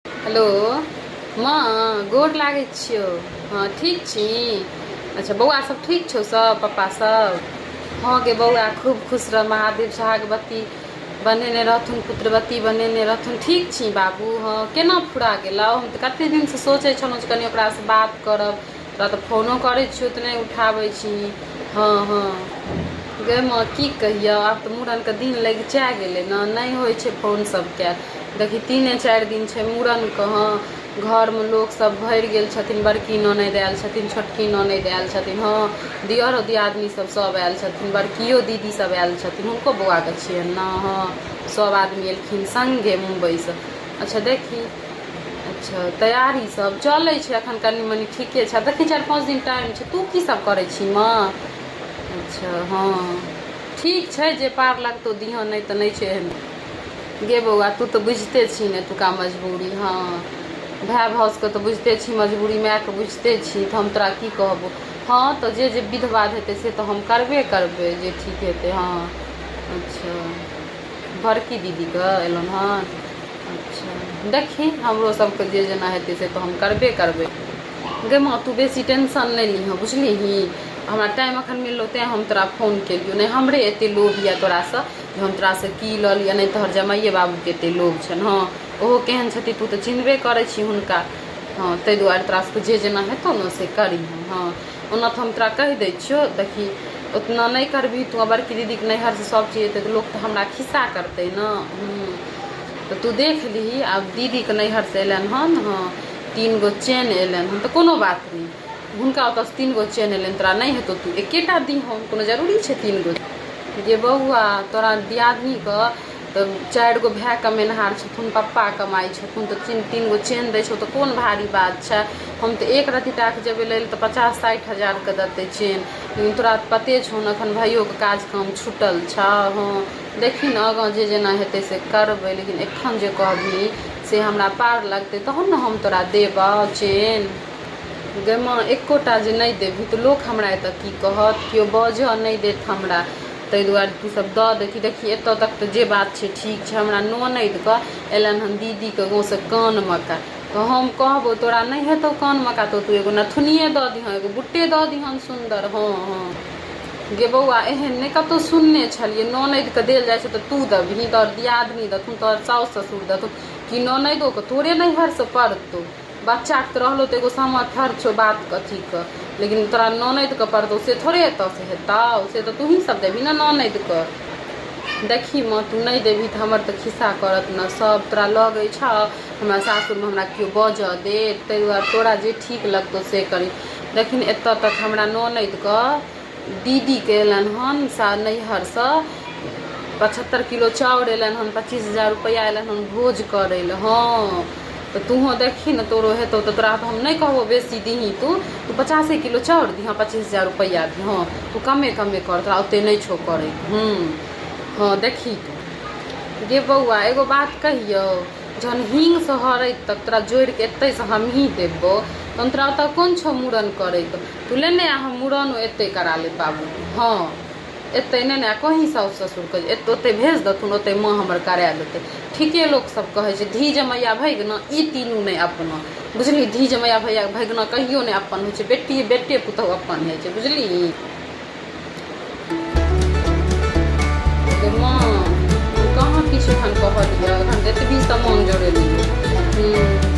Hello माँ गोर लागै छियौ हँ ठीक छी अच्छा बौआ सब ठीक छौ सब पप्पा सब हँ गे बौआ खूब खुश रह महादेव सोहागवती बनेने रहथुन पुत्रवती बनेने रहथुन ठीक छी बाबू हँ केना फुरा गेलौ हम तऽ कते दिनसँ सोचै छलहुँ जे कनि ओकरासँ बात करब तोरा तऽ फोनो करै छियौ तऽ नहि उठाबै छीही हँ हँ गै माँ की कहियौ आब तऽ मूड़नके दिन लगिचा गेलै ने नहि होइ छै फोन सब कयल देखी तीने चारि दिन छै मूड़नके हँ घरमे लोक सब भरि गेल छथिन बड़की ननदि आयल छथिन छोटकी ननदि आयल छथिन हँ दियरो दियादनी सब सब आयल छथिन बड़कियो दीदी सब आयल छथिन हुनको बौआके छियनि ने हँ सब आदमी एलखिन संगे मुम्बइसँ अच्छा देखी अच्छा तैयारी सब चलै छै एखन कनि मनि ठीके छै देखै चारि पाँच दिन टाइम छै तू की सब करै छी माँ अच्छा हँ ठीक छै जे पार लगतौ दिहँ नहि तऽ नहि छै एहन गे बौआ तू तऽ बुझिते छी ने एतुका मजबूरी हँ भाय भाउजके तऽ बुझिते छी मजबूरी मायके बुझिते छी तऽ हम तोरा की कहबो हँ तऽ जे जे विध बाध हेतै से तऽ हम करबे करबै जे ठीक हेतै हँ अच्छा बड़की दीदीके एलनि हन अच्छा देखी हमरो सभके जे जेना हेतै से तऽ हम करबे करबै गै माँ तू बेसी टेंशन नहि लिहँ बुझलिही हमरा टाइम अखन मिललौ तैँ हम तोरा फोन केलियौ नहि हमरे एते लोभ यऽ तोरासँ जे हम तोरासँ की लऽ लिअ नहि तोहर जमाइए बाबूके एते लोभ छनि हँ ओहो केहन छथि तू तऽ चिन्हबे करै छी हुनका हँ ताहि दुआरे तोरा सभके जे जेना हेतौ ने से करिहँ हँ ओना तऽ हम तोरा कहि दै छियौ देखी ओतना नहि करबही तू आ बड़की दीदीके नैहरसँ सब चीज एतै तऽ लोक तऽ हमरा खिस्सा करतै ने हूँ तऽ तू देख लिही आब दीदीके नैहरसँ एलनि हन हँ तीन गो चेन एलनि हन तऽ कोनो बात नहि हुनका ओतऽसँ तीन गो चेन एलनि तोरा नहि हेतौ तू एकेटा दिहन कोनो जरूरी छै तीन गो गे बौआ तोरा दियादनीके तऽ चारि गो भाय कमेनहार छथुन पप्पा कमाइ छथुन तऽ तीन तीन गो चेन दै छौ तऽ कोन भारी बात छै हम तऽ एक रत्ती टाक जेबै लै लए तऽ पचास साठि हजारके देतै चेन लेकिन तोरा तऽ पते छौ ने एखन भाइयोके काज काम छुटल छौ हँ देखी ने आगाँ जे जेना हेतै से करबै लेकिन एखन जे कहबही से हमरा पार लगतै तहन ने हम तोरा देबौ चेन गै माँ एक्कोटा जे नहि देबही तऽ लोक हमरा एतय की कहत केओ बाजय नहि देत हमरा ताहि दुआरे तू सब दऽ दै छी देखी एतऽ तक तऽ जे बात छै ठीक छै हमरा ननैद कऽ एलनि हन दीदी के गाँव से कान मका तऽ हम कहबौ तोरा नहि हेतौ कान मका तऽ तू एगो नथुनिये दऽ दिहँ एगो बुट्टे दऽ दिहन सुन्दर हँ हँ गे बौआ एहन नहि कतौ सुनने छलियै ननैद के देल जाइ छै तऽ तू देबही तोहर दियादनी देथुन तोहर साउस ससुर देथुन कि ननैदो के तोरे नैहर से पड़तौ बच्चाके तऽ रहलहुँ तऽ एगो सामर्थ्य छौ बात अथीके लेकिन तोरा ननदिके पड़तौ से थोड़े एतऽसँ हेतौ से तऽ तोँही सब देबही ने ननदिके देखही माँ तू नहि देबही तऽ हमर तऽ खिस्सा करत ने सब तोरा लगै छौ हमरा सासुरमे हमरा केओ बाजऽ देत ताहि दुआरे तोरा जे ठीक लगतौ से करही लेकिन एतऽ तक हमरा ननदिके दीदी के एलनि हन नैहर सँ पचहत्तर किलो चाउर एलनि हन पच्चीस हजार रुपैआ एलनि हन भोज करै लए हँ तऽ तूहो देखी ने तोरो हेतौ तऽ तोरा तऽ हम नहि कहबो बेसी दीही तू तू पचासे किलो चाउर दीहँ पच्चीस हजार रुपैआ दीहँ तू कमे कमे कर तोरा ओते नहि छौ करै हूँ हँ देखी तू गे बौआ एगो बात कहियौ जहन हिंग सँ हरैत तक तोरा जोड़ि कऽ एतैसँ हमही देबौ तहन तोरा ओतऽ कोन छौ मूड़न करैके तू लेने आ हम मुड़नो एतै करा लेब बाबू। हँ। एतै ने ने आ कहीं साउस-ससुरकेँ जे एत ओतै भेज देथुन, ओतै माँ हमर करा देतै। ठीके लोक सभ कहै छै। धी जमैया भैगना ई तीनू नै अपना। बुझलिही? धी जमैया भैया भैगना कहियो नै अपन होइ छै। बेटिये बेटे पुतहु अपन होइ छै। बुझलिही? गे माँ, हम कहाँ किछु एखन कहलियौ। एखन तँ एतबी समान जोड़ेलियौ। हूँ।